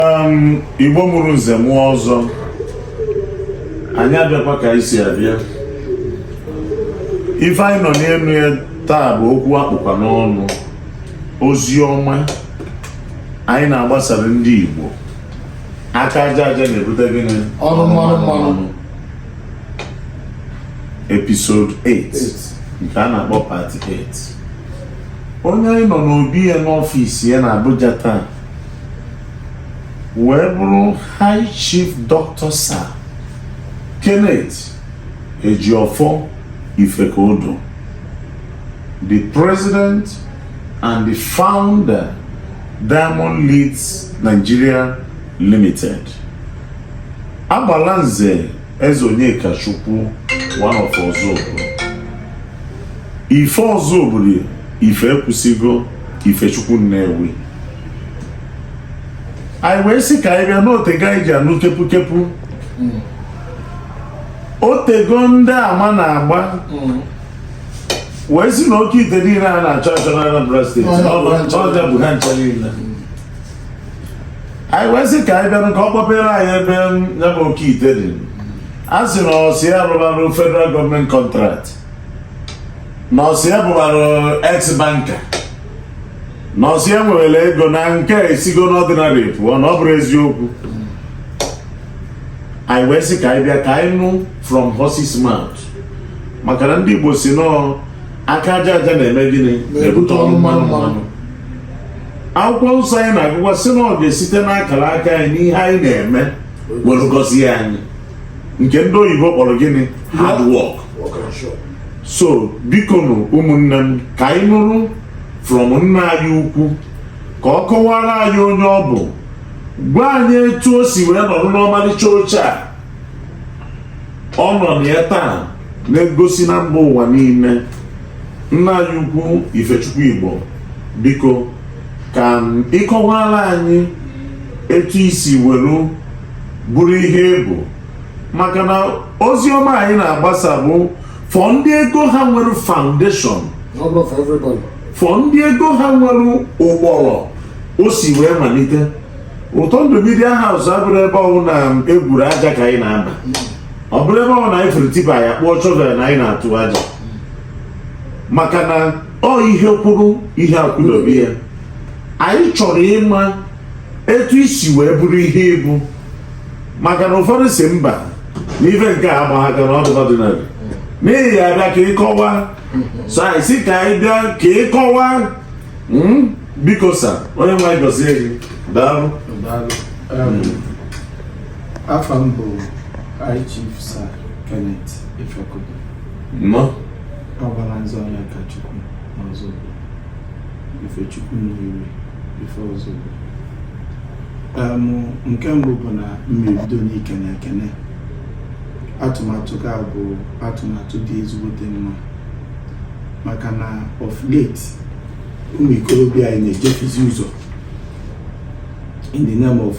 um, igbo mụrụ nze mụọ ọzọ anyị abịakwa ka anyị si abịa ife anyị nọ n'elu ya taa bụ okwu a kpụkwa n'ọnụ ozi ọma anyị na-agbasara ndị igbo aka aja aja na-ebute gịnị ọnụ mmanụ mmanụ episode 8 nke a na-akpọ part 8 onye anyị nọ n'obi ya n'ọfịs ya na Abuja taa wee bụrụ high chief dr sir kenneth ejiofọ ifekudu the president and the founder diamond leeds nigeria limited agbalanze eze onyekachukwu one of ọzụbụlụ ife ọzụbụlụ ife ekwusigo ifechukwu nnewi anyị wee sị ka anyị bịa na o tego anyị ji anụ kepukepu o tego ndị ama na-agba wee sị na oke ite niile a na-achọ achọ na Anambra steeti ọ ya bụ ha ncha niile anyị wee sị ka anyị bịa ka ọ kpọpere anyị ebe ya bụ oke ite dị a sị na ọ sị ya rụbarụ federal government contract na ọ sị ya bụbarụ ex banker na ọ sị ya nwerela ego na nke a esigo n'ordinary pụọ na ọ bụrụ eziokwu anyị wee sị ka anyị bịa ka anyị nụ from horse's mouth maka na ndị Igbo sị na ọ aka aja aja na-eme gịnị na-ebute ọnụ mmanụ mmanụ akwụkwọ nsọ anyị na-agụkwa sị na ọ ga-esite n'akara aka anyị n'ihe anyị na-eme were gọzie anyị nke ndị oyibo kpọrọ gịnị hard work so bikonụ ụmụnne m ka anyị nụrụ from nna anyị ukwu ka ọ kọwara anyị onye ọ bụ gwa anyị etu o si wee nọrọ n'ọmalịcha oche a ọ nọ na ya taa na-egosi na mba ụwa niile nna anyị ukwu ifechukwu igbo biko ka ị kọwara anyị etu i si were bụrụ ihe ị bụ maka na ozi ọma anyị na-agbasa bụ for ndị ego ha nwere foundation for ndị ego ha nwere ụkpụrụ o si wee malite ụtọ ndụ media house abụrụ ebe ọ wụ na egwuru aja ka anyị na-aba ọ bụrụ ebe ọ wụ na anyị fụrụ tipper ya kpụọ shovel na anyị na-atụ aja maka na ọ ihe kwụrụ ihe akwụdobe ya anyị chọrọ ịma etu i si wee bụrụ ihe ị bụ maka na ụfọdụ sị mba na ife nke a agbaghị aka na ọdụ ọdịnala n'ihi ya bịa ka ịkọwa so anyị sị ka anyị bịa ka ịkọwa mm, biko sir onye nwe anyị gọzie gị daalụ Daalụ. Um, Afa m bụ High Chief Sir Kenneth Ifekudu. nnọọ Agbalanze Onyekachukwu n'Ọzụbụlụ Ifechukwu Nnewi. Ife Ọzụbụlụ nke mbụ bụ na m ebido n'ikene ekene atụmatụ gị a bụ atụmatụ dị ezigbote mma maka na of late ụmụ ikorobịa anyị na-ejefizi ụzọ in the name of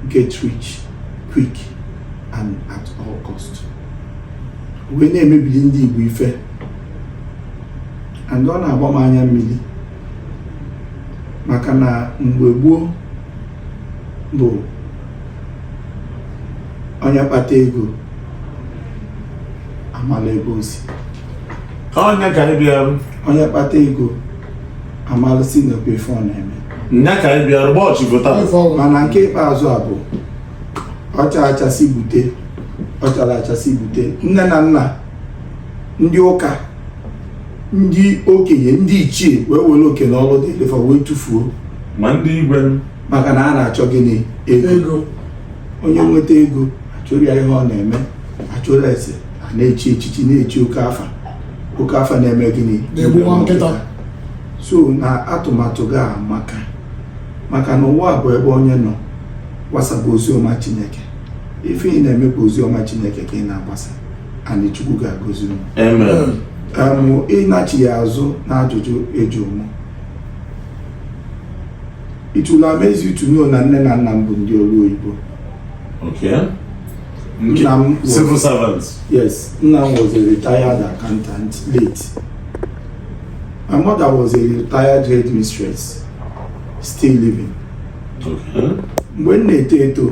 get rich quick and at all cost wee na-emebili ndị Igbo ife and ọ na-agba m anya mmiri maka na mgbe gboo bụ onye kpata ego amala ebe o si nya ka anyị bịara onye kpata ego amala si na ekwe ife ọ na-eme nya ka anyị bịara bọọ chi vota mana nke ikpeazụ a bụ ọ chara acha sị gbute ọ charọ acha sị gbute nne na nna ndị ụka ndị okenye ndị ichie wee were oke na ọrụ dịịlị fa wee tụfuo ma ndị igwe maka na a na-achọ gịnị ego onye nweta ego ajụrọ ya ihe ọ na-eme ajụrọ ese a na-echi echichi na-echi oke afa oke afa na-eme gịnị na-egbu nwa nkịta so na atụmatụ gị amaka maka na ụwa a bụ ebe onye nọ gbasaba ozi ọma chineke ife ị na-eme bụ ozi ọma chineke ka ị na-agbasa and Chukwu ga-agọzi unu ịnachịgha azụ na ajụjụ ị jụrụ mụ it will amaze you to know na nne na nna m bụ ndị ọrụ oyibo nna m civil servant yes nna m was a retired accountant late my mother was a retired headmistress still living mgbe m na-eto eto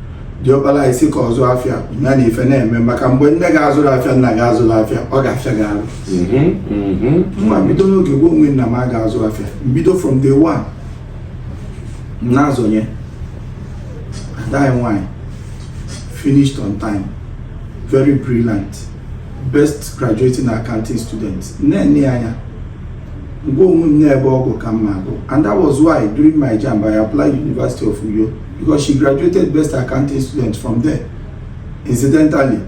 diọkpara ịsị ka ọ zụọ afịa ya na ife na-eme maka mgbe nne gị azụrọ afịa nna gị azụrọ afịa ọ ga-afịa gị arụ ma m bido n'oge gwa onwe m na m ga-azụ afịa m bido from day one m na-azọ nya ada anyị nwanyị finished on time very brilliant best graduating accounting student m na-ene ya anya Ngwa onwe m na ebe ọ gụ ka m na-agụ and that was why during my JAMB I applied University of Uyo because she graduated best accounting student from there. Incidentally,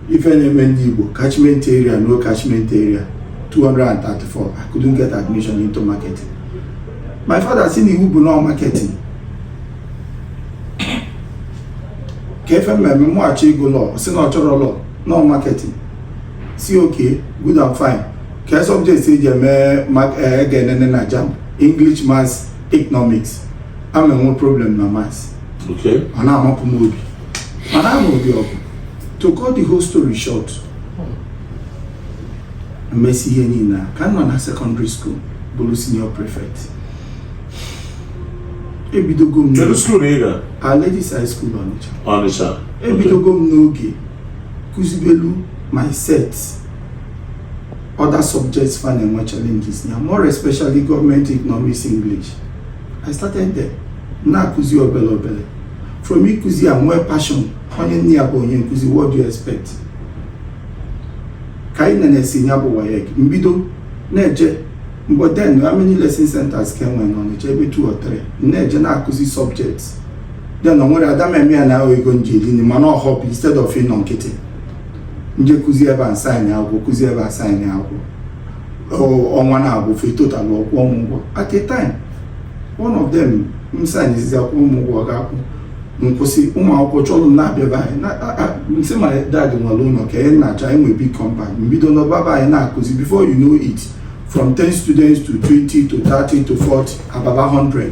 ife na-eme ndị Igbo catchment area no catchment area 234 I couldn't get admission into marketing. My father sị na iwu bụ no marketing kee ife m ma-eme mụghachi ịgụ law sị na ọ chọrọ law no marketing sị okay good and fine kee subject e ji eme eh, ga-enene na JAMB english maths economics ama enwe problem na maths ọ na-amapụ m obi mana ama obi ọgụ to cut the whole story short mmesi ihe nine a ka m nọ na secondary school bụlụ senior prefect ebidogo m Kedu school ị ga? Our Lady's High School Ọnịcha. Ọnịcha. ebidogo m n'oge kụzibelu my sets other subjects fa na-enwe challenges na ya more especially government economics english i started there na-akụzi obele obele from ịkụzi a nwee passion onye nne ya bụ onye nkụzi what do you expect ka anyị nenesị ya bụ WAEC mbido na-eje by then how many lesson centers ka e nwere n'Ọnịcha ebe two or three na-eje na-akụzi subjects then nwere ada m eme ya na-ahụ ego m ji eri nri mana no hope instead of ịnọ nkịtị nje kụzi ebe a m sign akwụkwọ kụzi ebe a m sign akwụkwọ ọnwa na-agwụ fa total ọ kwụọ m ụgwọ at a time one of them m signzizi akwụkwọ m ụgwọ ọ ga-akwụ nkwụsị ụmụ akwụkwọ chọrọ m na-abịa be anyị nsị my dad nwere ụlọ ka anyị na-achọ anyị nwee big compound mbido n'ọba be anyị na-akụzi before you know it from 10 students to 20 to 30 to 40 about 100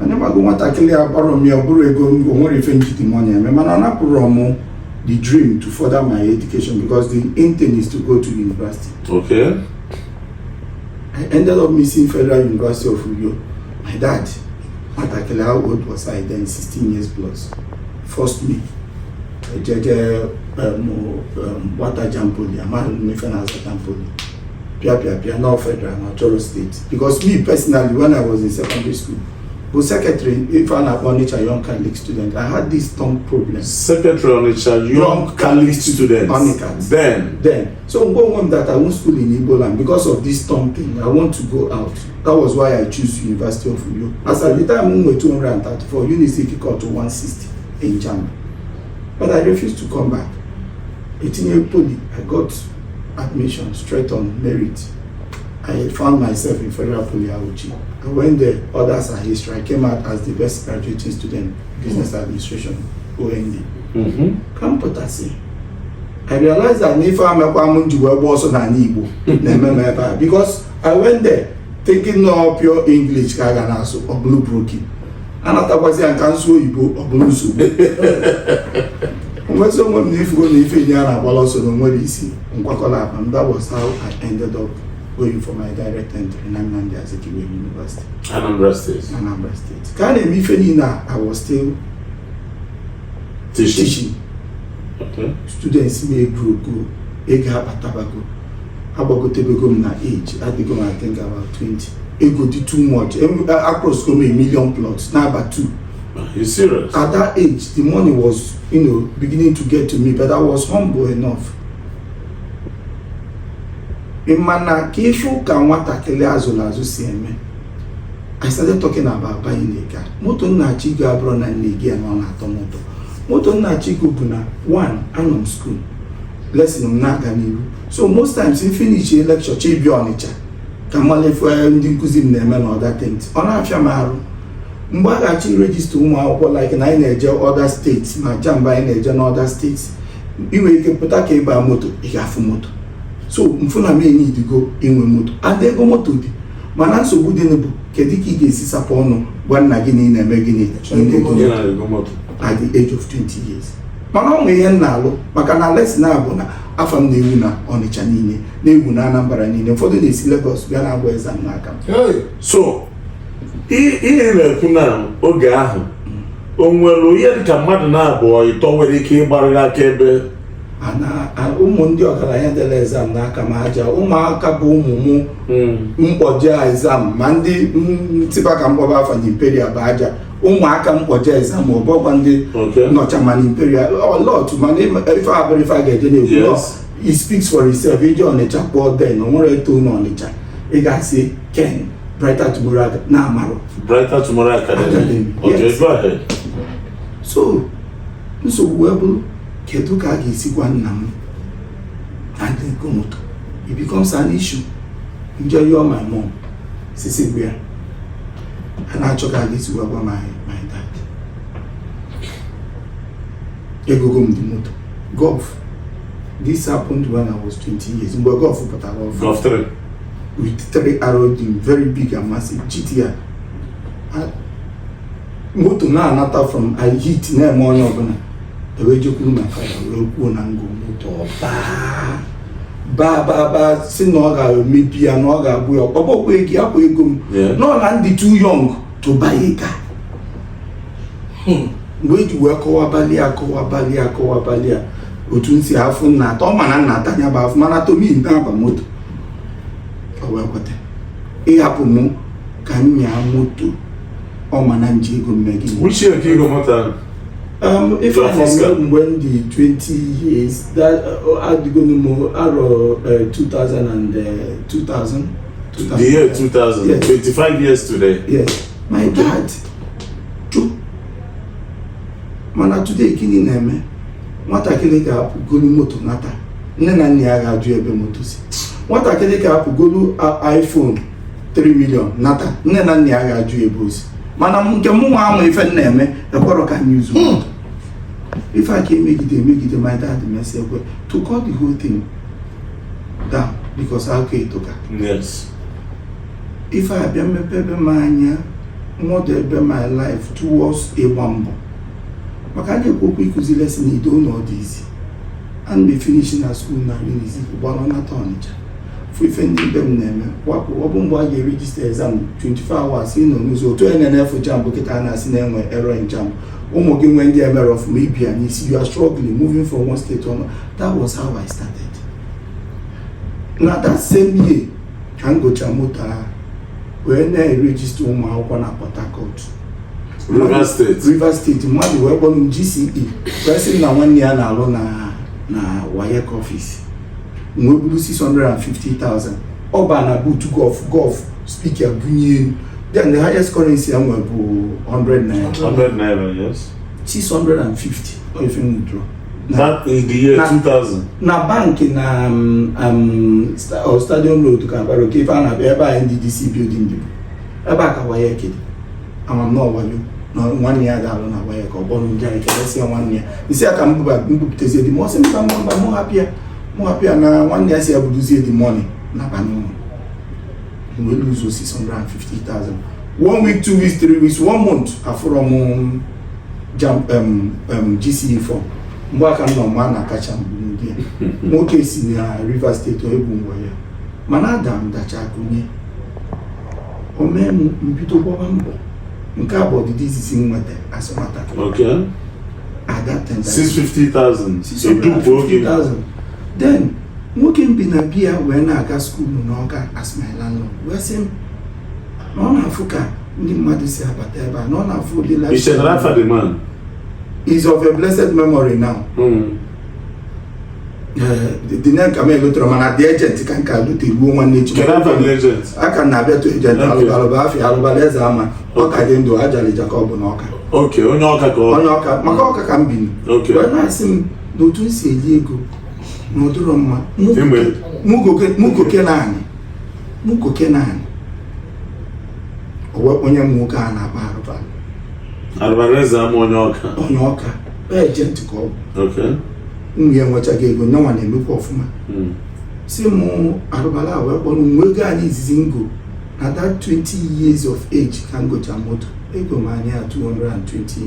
onye mago nwatakịrị a kpọrọ m ya ọ bụrụ ego o nwerọ ife nji the money eme mana ọ napụrọ m the dream to further my education because the intent is to go to university. Okay. I ended up missing Federal University of Uyo. My dad, nwatakịrị how old was I then? 16 years plus. Forced me. Ejeje um, um, weta JAMB poly, amaghị m ife na-aza JAMB poly. Pịa pịa pịa, na ọ federal, na ọ chọrọ state. because me personally when i was in secondary school bụ secretary ife a na-akpọ Onitsha Young Catholic student I had this tongue problem secretary Onitsha Young Catholic student Onicat then then so mgbe onwe m that I won't school in Igbo land because of this tongue thing I want to go out that was why I choose University of Uyo as at the time m nwere 234 Unisi Ifikot to 160 in Jam but I refused to come back etinye poli I got admission straight on merit I found myself in Federal Poly Auchi. I went there, others are history. I came out as the best graduating student, business mm-hmm. administration, OND. Mm-hmm. Ka m pụtasị, I realized that na ife a mekwa m ji wee gba ọsọ n'ana Igbo na-eme m ebe a because I went there thinking na ọ pure English ka a ga na-asụ ọ bụlụ broken. anatakwazịa ka nsụọ oyibo ọ bụrụ nsogbu ngwazị onwe m na ị fugo na ife nye a na-agbalụ ọsọ na o nwerọ isi nkwakọlụ akpa m that was how I ended up going for my direct entry na Nnamdi Azikiwe University Anambra State Anambra State ka a na-eme ife nine a I was still teaching okay. students m egrowgo ego akpatabago agbagotebego m na age adịgo m I think about 20 ego dị too much across go m million plus na-aba two You're serious? at that age the money was you know beginning to get to me but I was humble enough mana ka ịfụ ka nwatakịrị azụrụ azụ si eme I started talking about buying a car moto m na-achọ igo abụrọ na nne gị na ọ na-atọ m ụtọ moto m na-achọ igo bụ na one anọ m school lesson m na-aga n'ihu so most times m finish lecture chọ ịbịa ọnịcha ka m malụ ife ndị nkụzi m na-eme na other things ọ na-afịa m arụ mgbe a ga-achọ i register ụmụ akwụkwọ like na anyị na-eje other states ma JAMB anyị na-eje na other states ị nwere ike pụta ka ị ba moto ị ga-afụ moto so m fụ na m eneedigo inwe moto and ego moto dị mana nsogbu dị bụ kedu ka ị ga-esi sapụ ọnụ gwa nna gị na ị na-eme gịnị Chọọ igo moto. Ị na-ego moto. at the age of 20 years mana o nwere ihe m na-alụ maka na lesson a bụ na afa m na-ewu na ọnịcha niile na-ewu na anambra niile ụfọdụ na-esi Lagos bịa na-agba exam n'aka m Hey! so i- ihe na-ekwu na oge ahụ o nwere ihe dịka mmadụ naabọ ịtọ nwere ike ịgbarịrị akaebe A na- a- ụmụ ndị ọgaranya dere exam n'aka m aja ụmụaka bụ ụmụ mụ m kpọje exam ma ndị ntịba ka m kpọba afa na imperial bụ aja ụmụaka m kpọje exam ọbụ ọkwa ndị nọcha ma na imperial a lot mana ife abụrọ ife a ga-eje na-ekwu it speaks for itself ị je ọnịcha kpọọ then o nwerọ eto na ọnịcha ị ga-asị ken brighter tomorrow na amarọ brighter tomorrow academy ọjọ ebe ahụ so nsogbu wee bụrụ kedu ka a ga-esi gwa nna m na m na-ego moto it becomes an issue m je yọọ my mom sisi gbe ya a na-achọ ka a ga-esi gwa gwa my my dad egogo m dị moto golf this happened when I was 20 years mgbe golf pụtara ọfụ Golf 3. with three arrow in very big and massive GTR. I- moto na-anata from I heat na-eme onye ọbụla ewee jekwuru my father wee kwuo na m go moto ọ baa baa baa baa sị na ọ ga-emebi ya na ọ ga-agba ya ọkụ ọbụkwa ego ya ọkwa ego m no na m dị too young to buy a car hmm. mgbe eji wee kọwabalị ya kọwabalị ya kọwabalị ya otu nsi afụfụ m na-ata ọ ma na m na-ata nya bụ afụfụ m na-ata mụ na-aba moto ọ wee kweta ịhapụ mụ ka m nyaa moto ọ ma na nji ego mme gị Which year ka i go moto ahụ? Um, if I remember Your first car? mgbe m dị 20 years that uh, adịgonu m arọ uh, 2000 and uh, 2000 The year 2000, Yes. 25 years today. yes my dad chụ mana today gịnị na-eme nwatakịrị ga-apụ golu moto nata nne na nna ya ga-ajụ ebe moto si nwatakịrị ga-apụ golu a- iphone 3 million nata nne na nna ya ga-ajụ ya ebe o si mana m- nke mụ nwa ama ife m na-eme ekwerọ ka anyị zuo Hmm. ife a ka emegide emegide my dad mesi ekwe to cut the whole thing down because akụkọ etoka yes ife a bịa mepe ebe m anya model ebe my life towards ịgba mbọ maka a na-ekwu okwu ịkụzi lesson ido ụlọ dị izi and m finish na school na Unizik gbara nata Ọnịcha fụ ife ndị ibe m na-eme wakpo ọ bụ mgbe a ga-erejista exam 24 hours ị nọ n'ụzọ otu onye na-enefu JAMB kịta a na-asị na e nwe error in JAMB ụmụ gị nwee ndị e mere ọfụma ibi ya n'isi you are struggling moving from one state to another that was how I started na that same year ka m gocha moto ahụ wee na-erejista ụmụ akwụkwọ na Port Harcourt Rivers State Rivers State mmadụ wee kpọrọ m GCE wee sị m na nwanne ya na-alụ na na WAEC office wee buru 650,000 ọ baa na boot Golf Golf speaker bunye elu then the highest currency e nwere bụ 100 naira 100 naira, yes. 650 if you withdraw. Na- That in the year Na- 2000. na bank na um, um, sta- or stadium road ka Aba Road kee ife a na-abịa ebe a NDDC building dị ebe a ka WAEC dị ama m na ọ wayo na nwanne ya ada alụ na WAEC ka ọ kpọrọ ndị anyị kelesi ya nwanne ya sị ka m bupụtezie the money ọ sị mba mba mba mụ hapụ ya mụ hapụ ya na nwanne ya si ya buduzie the money naba ụnọ wee lose 650,000 one week two weeks three weeks one month afụrọ m JAMB um, um, GCE form mgbe aka nọ ma na akacha mgbu ndị ya nwoke si na Rivers State ọ egwu mgbe ya mana ada m dacha kunie o mee m mbido gbaba mbọ nke a bụ ọdịda izizi m nweta as a matter of fact at that time 650,000 edupu oge then nwoke m bi na be ya wee na-aga school n'Ọka as my landlord wee sị m na ọ na-afụ ka ndị mmadụ si abata ebe a na ọ na-afụ ụdị life the man is of a blessed memory now mm. the name ka m elotero mana the agent ka m ka lote igbuo nwanne echi a ka na-abịatụ agent alụbalụ bụ afa ya alụbalụ eze ama ọ ka dị ndụ ajalija ka ọ bụ n'ọka onye ọka ka onye ọka maka ọka ka m biri wee na-asị m na otu m si eli ego na ọ dịrọ mma mugoke na anyị mugoke na anyị onye m nwoke a na-akpọ arụbalụ arụbalụ eze ama onye ọka onye ọka agent ka ọ bụ nwunye ya enwechaghị ego nyanwa na-emekwa ọfụma hmm. si mụ arụbalụ wee kpọrọ m wee goo anị izizi m go na that 20 years of age ka m gocha moto egoo m anị 220,000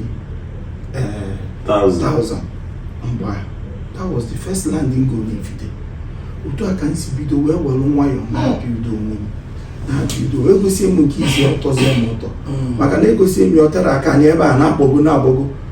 eh, mgbe ahụ that was the first land m golu n'Ifite otu a ka m si bido wee were nwayọọ na-ebido onwe m na-ebido egosịa m nke izizi ọ tọzie m ụtọ hmm. maka na egosịa m ya ọ aka anị ebe a na-agbago na-agbago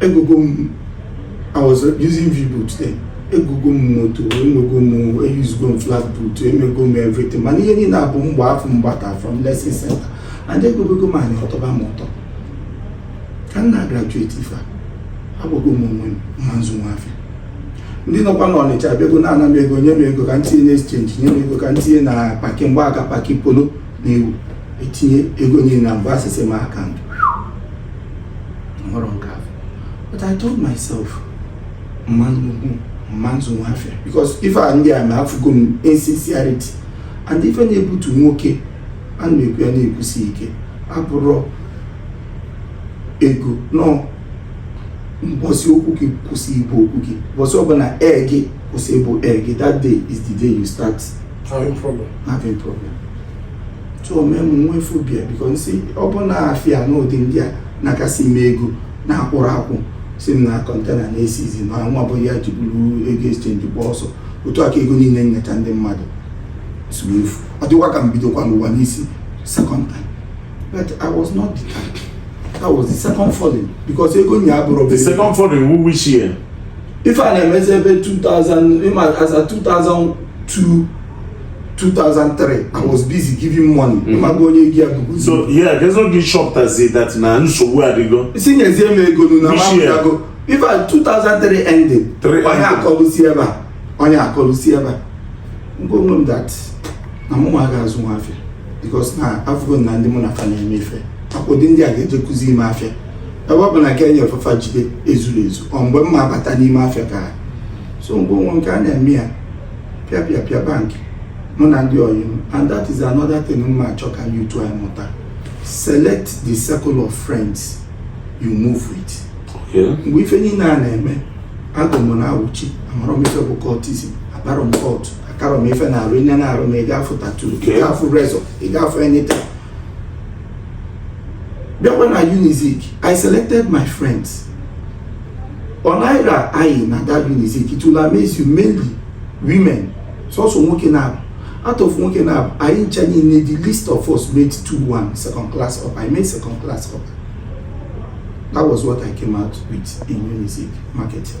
egogo m I was using V-boot then egogo m moto enwego m eyuzugo m flat boot emego m everything mana ihe niile a bụ mgba afọ m kpata from lesson center and egogo m anị ọ tọba m ụtọ ka m na-agraduate ife a agwago m onwe m m ma-azụnwu afịa ndị nọkwa n'Ọnịcha abịago na-ana m ego nye m ego ka m tinye na exchange nye m ego ka m tinye na paki mgbe a ka paki polo na-ewu etinye ego niile na mgbe asịsị m aka ndụ hụrụ nke afụ but I told myself m ma m ma-azụnwu afịa because ife a ndị a ma afụgo m insincerity and ife na-ebutu nwoke a na-ekwu ya na-ekwusi ike abụrọ ego no mbọsị okwu gị kwụsị ịbụ okwu gị mbọsị ọbụla ee gị kwụsị ịbụ ee gị that day is the day you start having problem having problem so mee m nwee phobia because asị ọ bụ na afịa n'ụdị ndị a na-akasị eme ego na-akwụrụ akwụ sị m na container na-esizi mana nwa bụ ya jiburu ego exchange gba ọsọ otu a ka ego niile m nyecha ndị mmadụ si efu ọ dịkwa ka m bidokwanụ ụwa n'isi second time But I was not the type. That was the second falling because ego nya abụrọ The second falling who which year? ife a na-emezi ebe 2000 ịma as a 2002 2003 I was busy giving money mm-hmm. ịmago onye ego ya bụbu so yeah ka e ji chọpụtazi that na nsogbu adịgo sị nyezie m ego nu na mapụtago before 2003 ended onye akọlụsi ebe a onye akọlụsi ebe a m gwa onwe m that na mụ ma ga-azụnwu afịa because na afụgo na ndị mụ na fa na-eme ife akwụdị ndị a ga-eje kụzi ime afịa ebe ọ bụ na ka enyere fafa jide ezuru ezu ọ mgbe m ma-abata n'ime afịa ka so mgbe a ọ nwe nke a na-eme ya pịa pịa pịa bank mụ na ndị oyi m and that is another thing m ma-achọ ka youth anyị mụta select the circle of friends you move with mgbe ife niile a na-eme agụ m na Auchi amarọ m ife bụ cultism abarọ m cult akarọ m ife n'arụ i nee n'arụ m ị ga-afụ tattoo ị Okay. ga-afụ razor ị ga-afụ anything bịakwa na unizik i selected my friends ọ naira anyị na that unizik it will amaze you mainly women sọsọ nwoke naabọ out of nwoke naabọ anyị ncha niile the least of us made 2-1 second class upper i made second class upper that was what i came out with in unizik marketing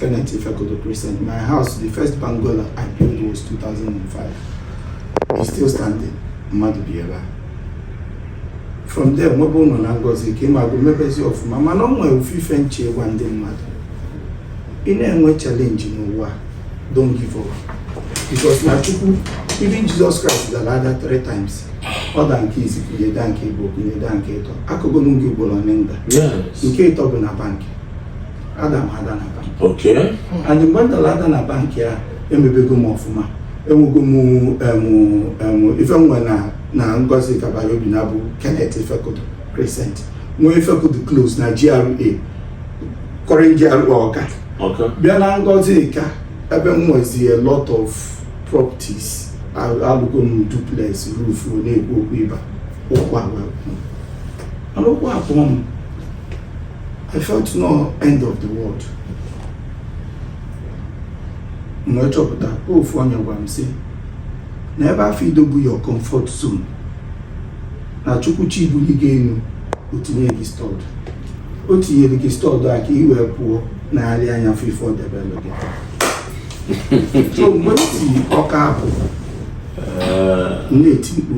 Kenneth Ifekudu Crescent, my house, the first bungalow I built was 2005. It's still standing. Mmadụ bi ebe a. From there, nwebe ụlọ na Ngozika ma bụ mebezi ọfụma mana ọ nwere ofu ife m chọ ịgwa ndị mmadụ. Ị na-enwe challenge n'ụwa, don't give up. Because na Chukwu, even Jesus Christ dara ada three times. Ọ da nke isi kunie da nke ịbọọ kunie da nke ịtọ. Akọgolu m gị ugboro ole m da. Yes. Nke ịtọ bụ na bank. ada m ada na bank okay and mgbe m dara ada na bank ya emebego m ọfụma enwego m em, em, ife nwe na na Ngozika by Obinagụ kenneth Ifekudu crescent nwee Ifekudu close na gra current gra ọka okay bịa na Ngozika ebe m nwezi a lot of properties Al- alụgo m duplex roof na-ekwu okwu ịba ụkwụ agwa mana ụkwụ abụọ m I felt na ọ end of the world. M wee chọpụta ofu onye gwa m sị na ebe afụ ị nọ bụ your comfort zone na chukwu chọ ibuli gị enu o tinye gị stud o tinyere gị stud a ka ị wee pụọ negharịa anya fụ ife o debelụ gị so mgbe m si ọka apụ m na-eti mkpu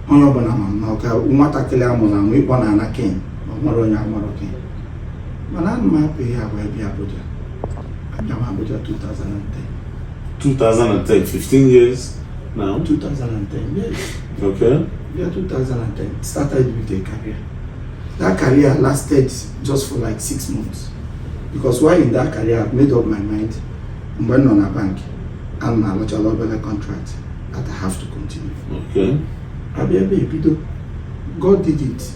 onye ọbụla ma m na ọka nwatakịrị a mụrụ amụ ị kpọ na ana ken ma ọ nwere onye amarọ Ken mana ana m apụ ihe a wee bịa Abuja abịa m Abuja 2010 2010 15 years now 2010 yes okay yeah 2010 started with a career that career lasted just for like six months because while in that career I've made up my mind mgbe m nọ na bank ana m alụchala obere contract that I have to continue okay abịa ebe a bido God did it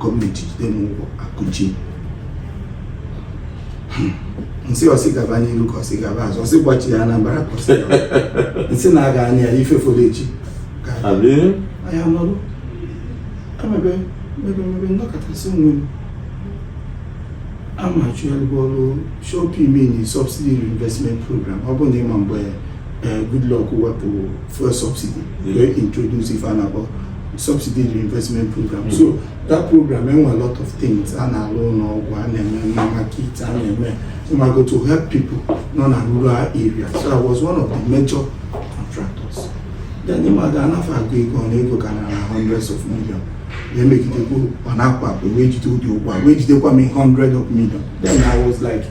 gọọmenti jide m ụgwọ akụchie nsị ọ sị gaba n'iru ka ọ sị gaba azụ ọ sị gbachi ya na mbara ka ọ sị gaba nsị na-aga anya ya ife fọrọ echi ka anya nọrụ emebe mebe mebe nnọkọtasị onwe m amachụgharịbụ ọrụ SURE-P meaning subsidy reinvestment program ọ bụ na ị ma mgbe Eh, Goodluck wepụ fuel subsidy wee introduce ife a na-akpọ subsidy reinvestment program hmm. so that program enwe a lot of things a na-alụ ụnọ ọgwụ a na-eme na market a na-eme mago to help people nọ na rural area so I was one of the major contractors then ịmaga anafe agụ ego ọnụ ego ka na hundreds of million na-emegidekwa ọ na-akwa akpa wee jide ụdị ụgwọ wee jidekwa m hundred of million then I was like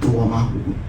ụwa m agwụgo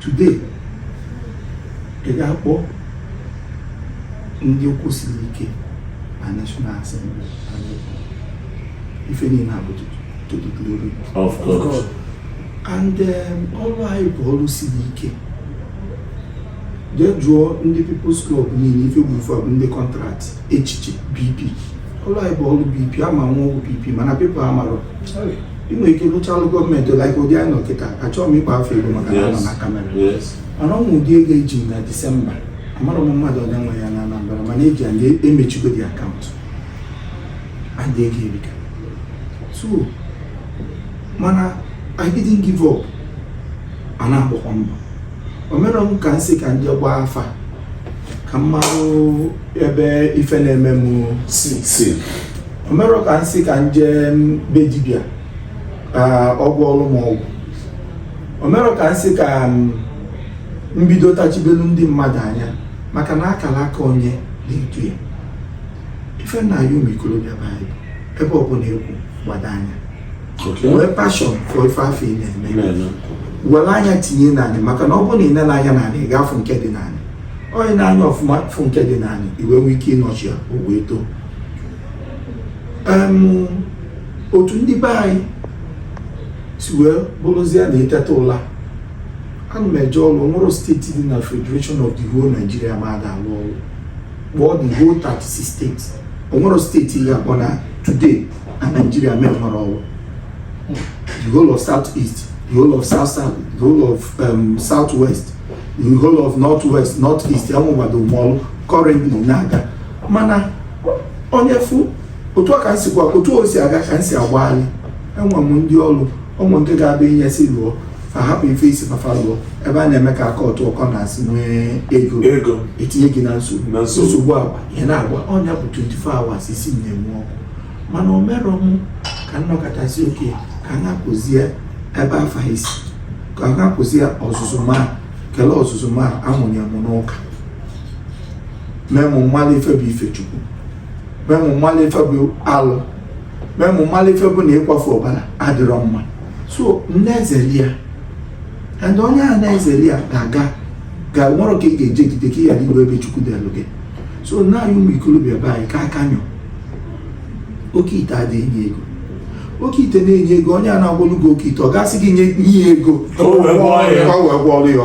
today ị ga-akpọ ndị ụkwụ siri ike na National Assembly ife niile a bụ to the glory of God and um, ọrụ anyị bụ ọrụ siri ike jee jụọ ndị People's Club niile ife bụ ife bụ ndị contract echiche BP ọrụ anyị bụ ọrụ BP a ma na ọ ọrụ BP mana people amarọ ị nwere ike lụcha ọrụ gọọmenti like ụdị anyị nọ kịta achọghị m ịkpọ afa ego maka na a nọ na camera mana ọ ụdị ego eji m na December amarọ m mmadụ one nwe ya na Anambra mana eji ya emechigo the account adị ego erika so mana I didn't give up a na-agbakwa mbọ o merọ m ka m sị ka m je gbaa afa ka m marụ ebe ife na-eme m si si o merọ ka m sị ka m je be dibịa ka ọ gwọọrụ m ọgwụ o merọ ka m sị ka m bido tachibelu ndị mmadụ anya maka na akara aka onye na-edu ya ife m na-ayọ ụmụ ikolobịa be anyị bụ ebe ọbụla ị kwụ gbado anya nwee passion for ife afụ ị na-eme were anya tinye n'anị maka na ọ bụrụ na ị nele anya n'anị ị ga-afụ nke dị n'anị onye nee anya ọfụma fụ nke dị n'anị i wee nwee ike ị nurture ya o wee too otu ndị be anyị si wee bụrụzie na e teta ụla ana m eje ọrụ o nwerọ state dị na federation of the whole Nigeria m ada alụ ọrụ kpọọ the whole 36 states o nwerọ state ị ga-akpọ na today na Nigeria m enwerọ ọrụ the whole of south east the whole of south south the whole of um, south west the whole of north west north east enwegbado m ọlụ currently na-aga mana onye fụ otu ka nsi gwa otu o si aga ka nsi agbagharị enwe m ndị ọrụ o nwee nke ga-abịa i nye sị lụọ fa hapụ ife ị sị fa fa lụọ ebe a na-eme ka aka ọtụ ọkọ na-asị nwee ego ego etinye gị na nsogbu nsogbu agwa ihe na-agwa ọ nya bụ 24 hours isi na-enwu ọkụ mana o mere m ka nnọkọtasị oke ka a na-akụzie ebe afa isi ka a na-akụzie ọzụzụ ma kele ọzụzụ m a mụnye m n'ụka mee mụ malụ ife bụ ife chukwu mee mụ malụ ife bụ alụ mee mụ malụ ife bụ na ịkwafu ọbara adịrọ mma so m na-ezeli ya and onye a na-ezeli ya ga-aga ga nwere ka ị ga-ejegide ka ị ghara iru ebe chukwu delụ gị so na anyị ụmụ ikolobịa be anyị ka aka nyụ oke ite adịghị enye ego oke ite na-enye ego onye a na-agwọlụ gị oke ite ọ ga-asị gị nye ya ego ka o wee gwọọlụ ya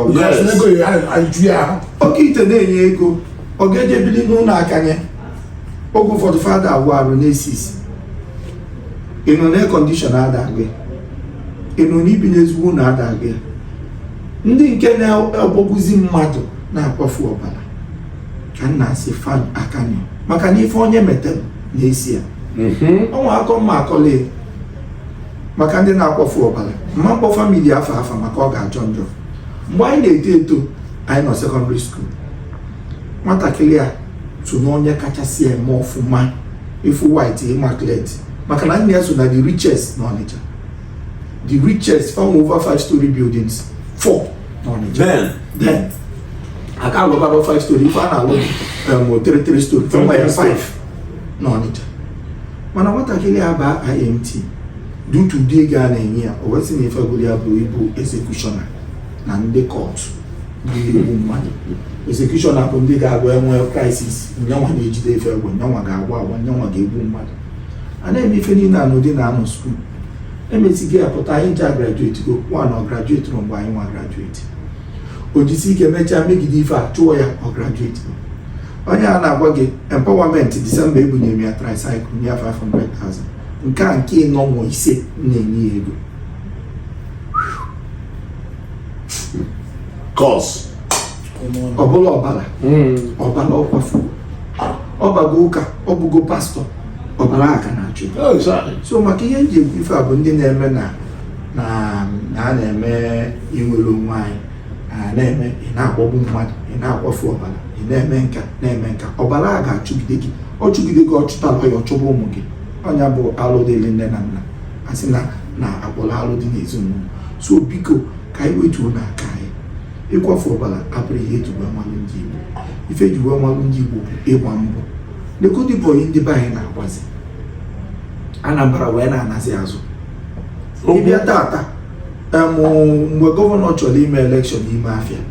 oke ite na-enye ego ọ ga-eje bili n'ụnọ akanya oge ụfọdụ fa ada awụ arụ na-esi isi ịnọ na air condition ada agụ ya ịnọ n'ibi n'ezigbo ụnọ ada agụ ya ndị nke na-agbagbuzi mmadụ na-akwafu ọbara ka m na-asị fan akani maka na ife onye metere na-eso ya o nwe akụkọ m ga-akọlụ ị maka ndị na-akwafu ọbara m ma akpọ famili afa afa maka ọ ga-ajọ njọ mgbe anyị na-eto eto anyị nọ sekọndịrị skuul nwatakịrị a so na onye kachasị eme ọfụma ị fụ white immaculate maka na nne ya so na the richest na Ọnịcha the richest farm over five story buildings four n'Ọnịcha then then a ka alụbarọ five story ife a na-alụ um, three three story Three, fọmba ya three story. five n'Ọnịcha mana nwatakịrị a baa IMT due to ụdị ego a na-enye ya o wee sị na ife gụrụ ya bụ ịbụ executioner na ndị cult na-egbu mmadụ executioner bụ ndị ga-agba e nwee crisis nyanwa na-ejide ife egbe nyanwa ga-agba agba nyanwa ga-egbu mmadụ a na-eme ife niile a n'ụdị na a nọ skuul e mesịa a pụta anyị ncha grajueti go mana ọ grajuetirọ mgbe anyị nwa grajueti o jisi ike mechaa megide ife a chụọ ya ọ grajueti onye a na-agwa gị empowerment disemba ebunye m ya tricycle nye ya 500,000 nke a nke ịnọ nwa ise na-enye ya ego kọs ọ bụla ọbara ọbara ọ kwafu ọ bago ụka ọ bụgo pastọ ọbara a ka na-achụ so maka ihe nji ekwu ife a bụ ndị na-eme na na a na-eme inwere onwe anyị na-eme ị na-agbagbu mmadụ ị na-akwafu ọbara ị na-eme nka na-eme nka ọbara a ga-achụgide gị ọ chụgide gị ọ chụtalọ ị ọ chụba ụmụ gị ọ nya bụ alụ dịrị nne na nna a sị na na akpọrọ alụ dị n'ezinụlọ so biko ka anyị wetuonụ aka ịkwafu ọbara abụrọ ihe eji wee malụ ndị Igbo ife eji wee malụ ndị Igbo bụ ịgba mbọ negodi bọyị ndị be anyị na-agbazi Anambra wee na-anazi azụ ị bịa taata em mgbe gọvanọ chọrọ ime elekshọn n'ime afịa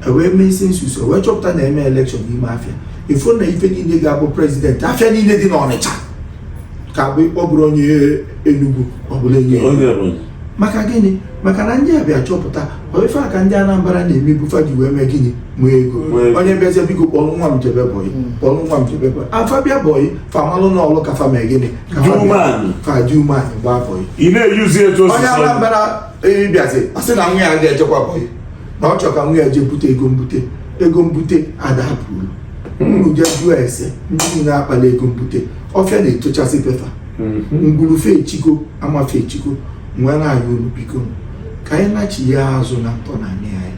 e wee mee census wee chọpụta na eme elekshọn n'ime afịa ị fụ na ife niile ga-abụ prezidenti afịa niile dị n'Ọnịcha ka bụ ọ bụrụ onye Enugu ọ bụrụ onye Ebonyi maka gịnị maka na ndị a bịa chọpụta ife aka ndị Anambra na-emebu fa ji wee mee gịnị nwee ego onye bịazie biko kpọrọ nwa m jebe bọyị hmm. kpọrọ nwa m jebe bọyị fa bịa bọyị fa malụ na o lu ka fa mee gịnị ka fa dị umeanị gbaa bọyị onye Anambra bịazi ọ sị na nwa ya ga-ejekwa bọyị na ọ chọrọ ka nwa ya jee bute ego mbute ego mbute adapụrụ unu jee jụọ ese ndị niile kpalụ ego mbute ọfịa na-etochisi be fa ngwuru fa echigo ama fa echigo m wee na-ayọ unu biko ka anyị nachia azụ na ntọnanị anyị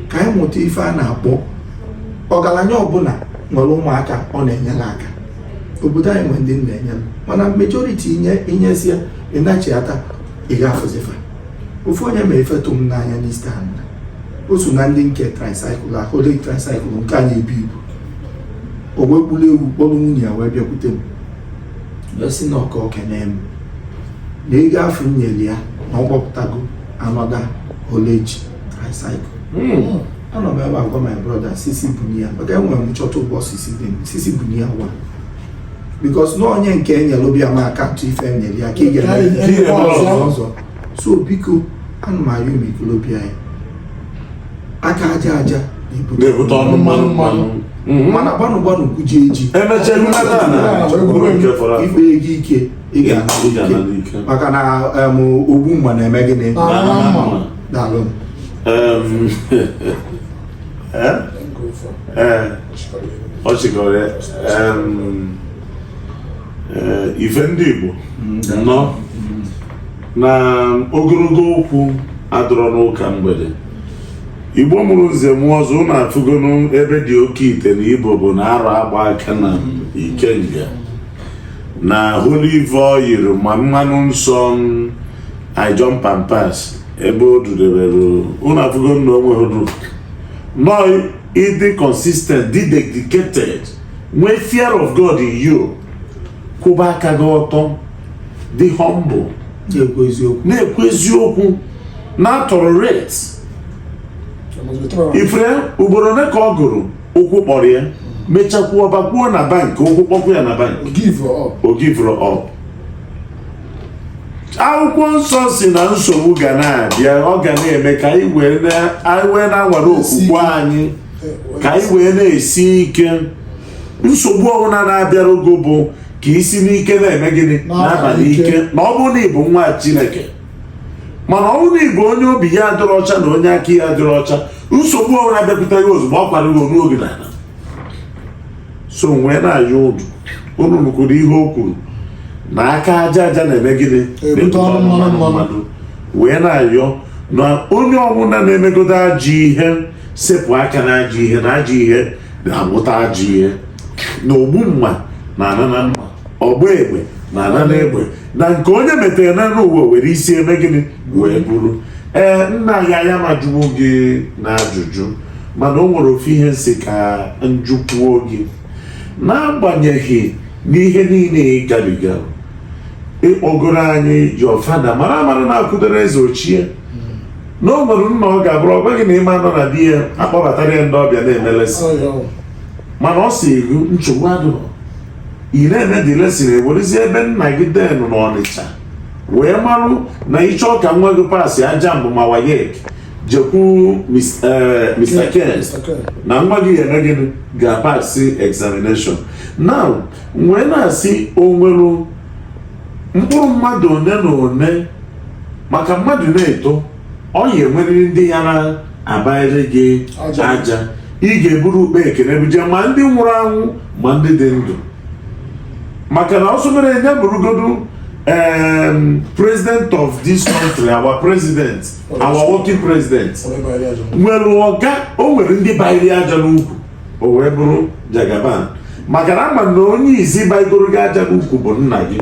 ka anyị mụta ife a na-akpọ ọgaranya ọbụla nwere ụmụaka ọ na-enyere aka obodo anyị nwere ndị na-enyere mana majoriti i nyesịa ị nachiata ị ga-afụzi fa ofu onye mee ife tụ m n'anya n'East Anambra o so na ndị nke tricycle haulage tricycle nke a na-ebu ibu o wee kpụrụ ewu kpọrọ nwunye ya wee bịakwute m wee sị na ọ ka o kenee m na ego afụ m nyere ya na ọ kpọpụtago another haulage tricycle hmm. anọ m ebe a gwa my brother sisi bunye ya maka enwere m chọta ụgbọ sisi dị m sisi bunye ya wa because na onye nke e nyere ọ bịa mee account ife e nyere ya ka ị ga-eme ọzọ so biko ana m ayọ ụmụ ikolobịa aka aja aja na-ebute ọnụ mmanụ mmanụ mhm. mana gbanụ gbanụ kwuje eji emechaa ịkpa ego ike ị ga-ana ike maka na ogbu mma na-eme gịnị daalụ ọ chịkọrọ ya eh, ife ndị Igbo nọ na ogologo okwu adịrọ n'ụka mgbede Igbo mụrụ nze mụọ ọzọ unu afụgonu ebe ndị okeite na ibobo na arọ agba aka na ikenga na olive oil ma mmanụ nsọ ijom pampas ebe o dudebere ụnụ afụgonu na o nwerọ ịdị consistent dị dedicated nwee fear of God in you kwụba aka gị ọtọ dị humble na-ekwu eziokwu na-atolerate ị fụrọ ugboro ole ka ọ gụrụ ụkwụ kpọrọ ya mechakwuo bakwuo na bank ụkwụ kpọkwuo ya na bank o giverọ up akwụkwọ nsọ si na nsogbu ga na-abịa ọ ga na-eme ka anyị wee na-anwale okwukwe anyị ka anyị wee na-esi ike nsogbu ọbụla na-abịara gị bụ ka i si n'ike na-eme gịnị na-aba n'ike na ọ bụrụ na ị bụ nwa Chineke mana ọ bụrụ na ị bụ onye obi ya adịrọ ọcha na onye aka ya adịrọ ọcha nsogbu ọbụla bịakwute ya ozugbo ọ kwara gị n'ala so m wee na-ayọ unu unu nụkwuru ihe o kwuru na aka aja aja na-eme gịnị na-ebute ọnụ mmanụ mmanụ wee na-ayọ na onye ọbụla na-emegodo ajọ ihe sepụ aka na ajọ ihe na ajọ ihe na-amụta ajọ ihe na ogbu mma na-ana na mma ọgba egbe na-ana na egbe na nke onye metara na n'ụwa were isi eme gịnị wee buru ee nna ya ya m ajụwo gị na ajụjụ mana o nwere ofu ihe m sị ka m jụkwuo gị n'agbanyeghị n'ihe niile ị gabiga ị kọgoro anyị your father mara amara na-akwụdoro eze ochie na o nwere nna ọ ga-abụrụ ọ gwa gị na ị ma anọ na be ya akpọbatara ya ndị ọbịa na-eme lesson mana ọ sị gị nsogbu adịrọ ị na-eme the lesson e werezie ebe nna gị de n'Ọnịcha wee marụ na ị chọọ ka nwa gị pasịa JAMB ma WAEC jekwuru Mr. Eh, Ken na nwa gị eme gịnị ga-apasị examination now m wee na-asị o nwere mkpụrụ mmadụ one na one maka mmadụ na-eto ọ ya enwerịrị ndị ya na-abanyere gị aja ị ga-eburu ukpa ekene buje ma ndị nwụrụ anwụ ma ndị dị ndụ maka na ọsọ mere onye bụrụgodu president of this country our president our working president nwere ọga o nwere ndị bayiri aja n'ukwu o wee bụrụ Jagaban maka na ama m na onye izi baigoro gị aja n'ukwu bụ nna gị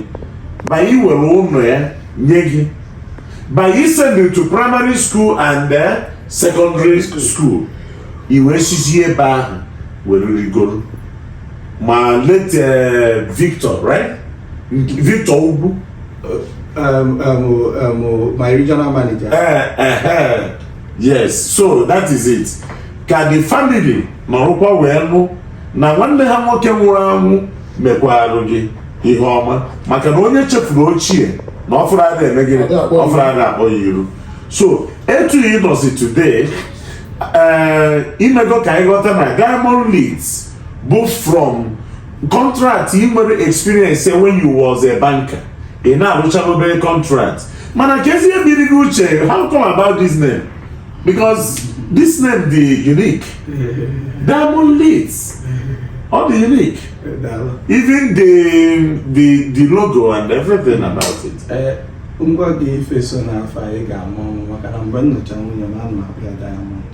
by iwere ụnọ ya nye gị by isend you to primary school and eh, secondary school i wee sizie ebe ahụ were rigoro ma late eh, Victor right Victor Ugwu Um, um, um, um, my regional manager. Uh, uh, uh, yes, so that is it. Ka the family nọrọkwa wee nụ na nwanne ha nwoke nwụrụ anwụ mekwarụ gị ihe ọma maka na onye chefuru ochie na ọfụrụ ada eme gịnị ọfụrụ ada akpọ ya iru so etu ị nọzi today ee eh, i mego ka anyị ghọta na Diamond Leeds bụ from contract i nwere experience when you was a banker ị na-arụcha obere contract mana ka ezi ihe biri gị uche how come about this name because this name dị unique Diamond Leeds ọ dị unique even the the the logo and everything about it. Eh, m gwa gị ife so n'afa ahụ ị ga-amụ amụ maka na mgbe m nụcha nwunye m ana m akpọ ya Diamond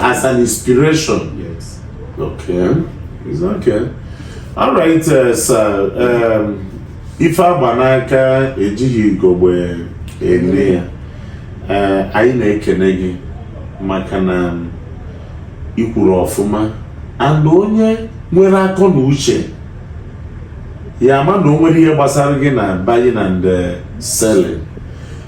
as an inspiration. Yes. Okay. It's okay. All right, uh, sir. Um, ife a gba n'aka ejighị igogbe ene ya uh, anyị na-ekene gị maka na um, i kwuru ọfụma and onye nwere akọ na uche ya ama na o nwere ihe gbasara gị na buying and uh, selling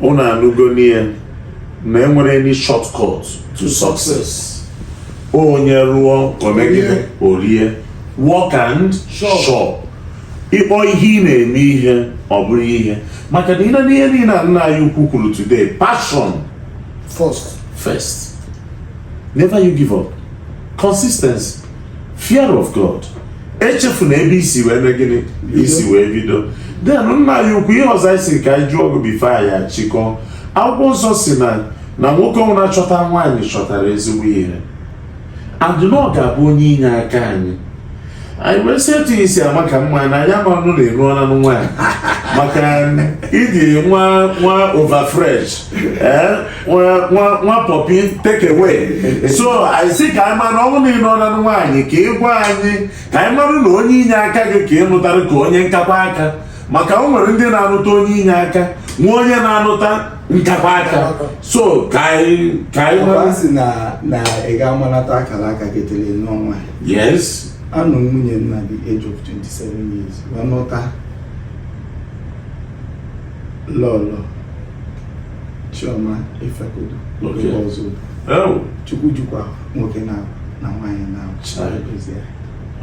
unu anụgo nụ ya na enwerọ any shortcut to success onye rụọ o mee gịnị o rie work and chop ị kpọọ ihe ị na-eme ihe ọ bụrụ ihe maka na i lee n'ihe niile a nna anyị ukwu kwuru today passion first never you give up consistency fear of God echefuna ebe i si wee mee gịnị i si wee bido then nna anyị ukwu ihe ọzọ anyị sị ka anyị jụọ gị before anyị achịkọọ akwụkwọ nsọ sị na na nwoke ọbụna chọta nwaanyị chọtara ezigbo ihe and na ọ ga-abụ onye inye aka anyị anyị wee sị etu i si amaka mma na anyị amanụ na ị nụọna nwaanyị maka ị dị nwa nwa over fresh ee nwa pọpi take away so anyị sị ka anyị mara ọ bụrụ na ị nụọna nwaanyị ka ị gwa anyị ka anyị mara na onye inye aka gị ka ị nụtara ka onye nkakwa aka maka o nwere ndị na-anụta onye inye aka nwee onye na-anụta nkakwa aka so ka anyị ka anyị mara si na na ị ga-amalata akara aka gị tele n'ọnwa yes anụ m nwunye at the age of 27 years wee nụta lọlọ Chioma Ifekudu nke Ọzụbụlụ oh. Chukwu jikwa nwoke na na nwaanyị na edozi ya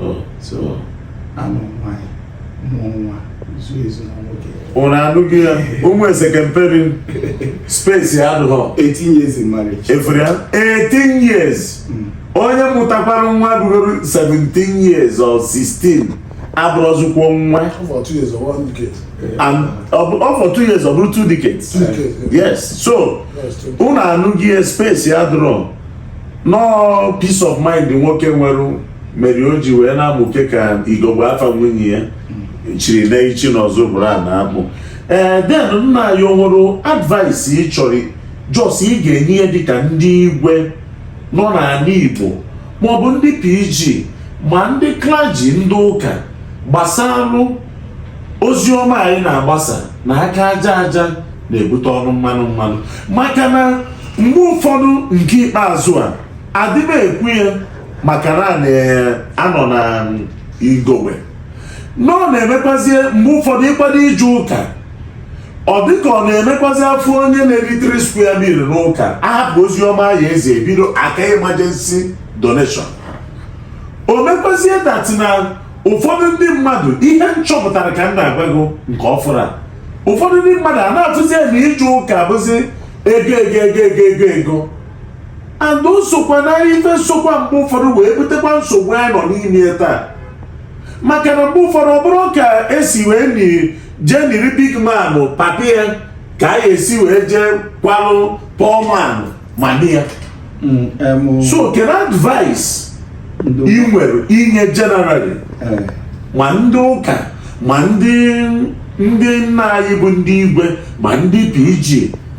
oh. so anụ nwaanyị mụọ nwa zuo ezu na nwoke unu anụghị ya ụmụ eze kemperi space adụghọ 18 years in marriage efere ya 18 years mm. onye mụtakwara nwa rugoro 17 years or 16 abụrọzikwa nwa ọ fọ two years or one decade and ọ bụ- ọ fọ two years ọ bụrụ two decades two decades yeah. yes so Yes, two decades. unu anụghị space adụrọ nọọ peace of mind nwoke nwere mere o ji wee na-amụke ka igogbe afa nwunye ya chiri na Ichi na Ọzụbụlụ a na-akpọ ee then nna anyị o nwere advice ị chọrọ just ị ga-enye ya dịka ndị igwe nọ n'ana Igbo maọbụ ndị PG ma ndị klaji ndị ụka gbasalụ ozi ọma anyị na-agbasa na aka aja aja na-ebute ọnụ mmanụ mmanụ maka na mgbe ụfọdụ nke ikpeazụ a adịba ekwu ya maka na anọ na igowe nọ na-emekwazie mgbe ụfọdụ ịkwado ije ụka ọ dịka ọ na-emekwazi afụ onye na-eri 3 square meal n'ụka ahapụ ozi ọma ya ezi ebido aka emergency donation o mekwazie dat na ụfọdụ ndị mmadụ ihe m chọpụtara ka m na-agwa gị nke ọfụrụ a ụfọdụ ndị mmadụ a na-afụzi na ije ụka bụzi ego ego ego ego ego ego and o sokwa na ife nsokwa mgbe ụfọdụ wee butekwa nsogbu anyị nọ n'ime taa maka na mgbe ụfọdụ ọ bụrụ ka esi wee jee niri big man papi ya ka a ga-esi wee jee kwalụ poor man ma di ya Mm, em, o- so kedu advice ndo- ị nwere inye generally eh, ma ndị ụka ma ndị ndị nna anyị bụ ndị igwe ma ndị PG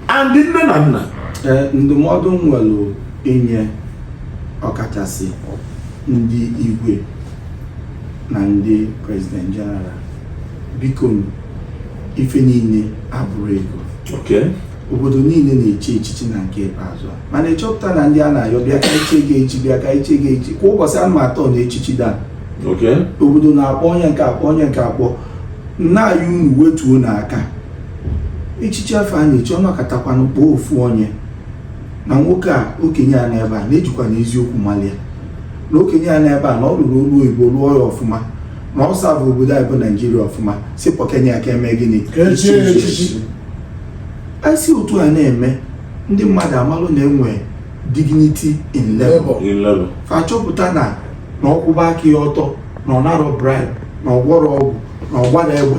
and ndị nne na nna eh, ndụmọdụ m nwere inye ọkachasị ndị igwe na ndị prezident jeneral biko ife niile abụrọ ego obodo niile na-echi echichi na nke ikpeazụ a mana ị chọpụta na ndị a na-ayọ bịa ka e chie gị echi bịa ka e chie gị echi kwa ụbọchị anụ atọ na echichi da obodo na-akpọ onye nke akpọ onye nke akpọ nna anyị unu wetuonụ aka echichi afụ a na-echi a nọkatakwanụ kpọọ ofu onye na nwoke a okenye a n'ebe a na-ejikwa n'eziokwu malia na okenye a n'ebe a na ọ lụrụ ọlụ oyibo lụọ ya ọfụma na ọ savụ obodo anyị bụ naijiria ọfụma sị kpọ okenye a ka e mee gịnị anyị si otu a na-eme ndị mmadụ amalụ na e nwe dignity in labour fa chọpụta na na ọ kwụba aka ya ọtọ na ọ narọ bribe na ọ gwọrọ ọgwụ na ọ gbarọ egbe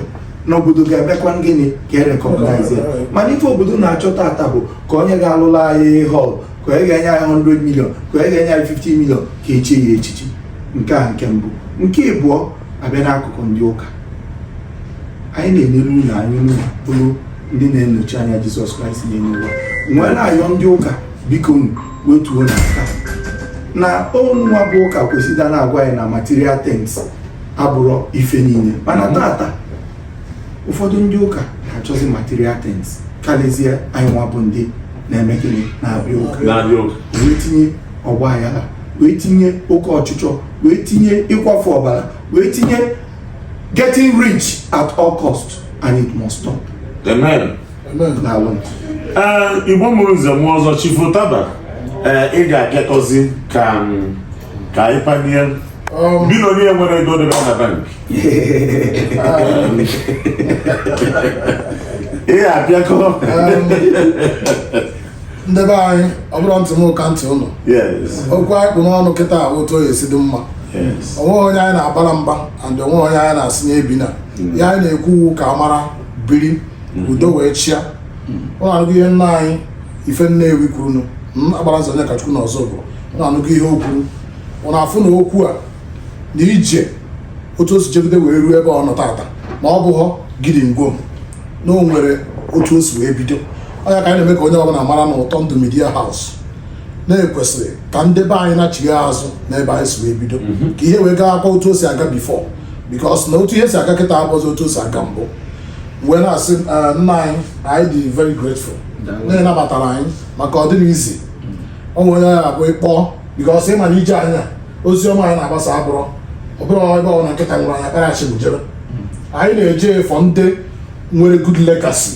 na obodo ga-emekwa gịnị ga-e recognize mana ife obodo na-achọ taata bụ ka onye ga-alụlụ anyị hall ka e ga-enye anyị 100 million ka e ga-enye anyị 50 million ka e chie ya echichi nke a nke mbụ nke ịbụọ abịa n'akụkụ ndị ụka anyị na-enele unu anya unu bụrụ ndị na-anọchi anya Jizọs Kraịst n'elu ụwa m wee na-ayọ ndị ụka biko unu wetuonụ aka na unu nwa bụ ụka kwesịrị na-agwa anyị na material things abụrọ ife niile mana taata ụfọdụ ndị ụka na-achọzi material things karịzie anyị nwa bụ ndị na-eme gịnị na-abịa ụka na-abịa ụka wee tinye ọgba aghara wee tinye oke ọchịchọ wee tinye ịkwafu ọbara wee tinye getting rich at all cost and it must stop. Amen. Amen. Amen. Eh, igbo mụrụ nze na ọzọ chifu taba eh, ị ga-apịakọzi ka mm, ka anyị panie um, billionaire nwere ego debe na bank ị apịakọ um, ndị be anyị ọ bụrụ ntị mụ ka ntị ụnụ okwu anyị kpụ n'ọnụ kịta otu ọ ya-esi dị mma onweghị onye anyị na-abara mba and onweghị onye anyị na-asị ya ebina mm. ya anyị na-ekwu wụ ka a mara biri mm. udo wee chịa mm. ụnụ anụ ihe nna anyị Ife Nnewi kwuru nụ Agbalanze Onyekachukwu na Ọzụbụ na-anụgo ihe o kwuru unu afụ na okwu a na ije otu o si jegide wee ruo ebe ọ nọ tata ma ọ bụghọ gidigwom na o nwere otu o si wee bido ọ ya ka anyị na-eme ka onye ọbụla mara na ụtọ ndụ Media House na e kwesịrị ka ndị be anyị na-echigha azụ n'ebe anyị si wee bido mhm. ka ihe wee gaakwa otu o si aga before because na otu ihe si aga kịta abụzi otu o si aga mbụ wee na-asị eh, nna anyị anyị dị very grateful na ị nabatara anyị maka ọ dịghị easy o nwere onye ọ ya-abụ ị kpọọ because ị ma na ije anyị a ozi ọma anyị na-agbasa abụrọ ọ bụrụ ebe ọbụla nkịta nwụrụ anyị akpara achị jebe anyị na-eje afụ ndị nwere good legacy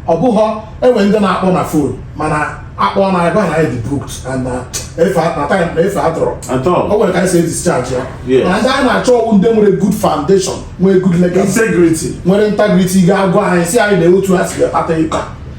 ọ bụghọ e nwee ndị na-akpọ na phone mana a kpọọ na ebe a na anyị dị booked and na efe a- na time na efe adịrọ At all. o nwere ka anyị si discharge ya Yes. na ndị anyị na-achọ wụ ndị nwere good foundation nwee good legacy Integrity. nwere integrity ga-agwa anyị sị anyị na otu ha si wee kpata ịka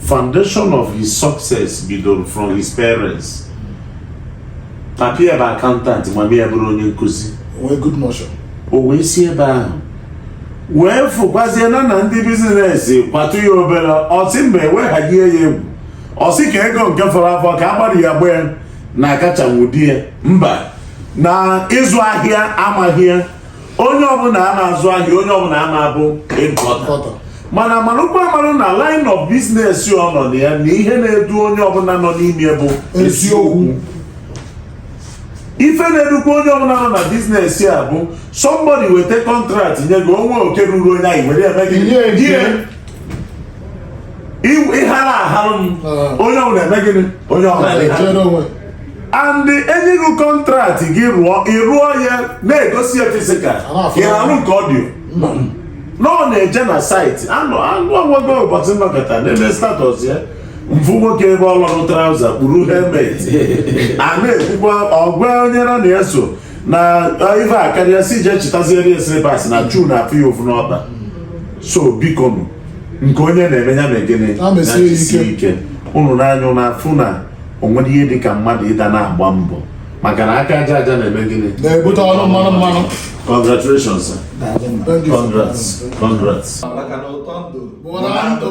foundation of his success bidoro from his parents papi ya bụ accountant mami ya bụrụ onye nkụzi nwee good notion o wee si ebe ahụ wee fụkwazie na na ndị business kwatụ ya obere ọ sị mba eweghaghị ya egwu ọ sị ka ego nke fọrọ afọ ka agbari ya gbee na akachanwu di ya mba na ịzụ ahịa amaghị ya onye ọbụla a na-azụ ahịa onye ọbụla a na-abụ importer mana marụkwa amarụ na line of business ọ nọ na ya na ihe na-edu onye ọbụla nọ n'ime ya bụ eziokwu ife na-edukwa onye ọbụla nọ na business a bụ somebody weta contract nye gị o nwee oke ruru onye anyị were eme gị ị hara aharụ m ah. onye ọbụla eme gịnị onye ọbụla and e nye gị contract gị rụọ ị rụọ ya na-egosi ya physical ị na-arụ nke audio na ọ na-eje na site anụ anụ ọgwụgwọ ụbọchị m nọkata n'ebe status ya m fụ nwoke ebe ọ lọrụ trouser kpuru helmet a na-ekwukwa ọ gwa onye na ya so na ife akarịa sị je chitaziere ya slippers na shoe na-afụ ya ụfụ n'ọkpa so biko nụ nke onye na-eme ya mee gịnị Ya mesie ya na-ejisi ike. ike unu na anyị na-afụ na o nwerọ ihe dị ka mmadụ ịda na-agba mbọ maka na aka aja aja na-eme gịnị na-ebute ọnụ mmanụ mmanụ congratulations sir. Thank you. congrats congrats maka na ụtọ ndụ Bụ na ndụ.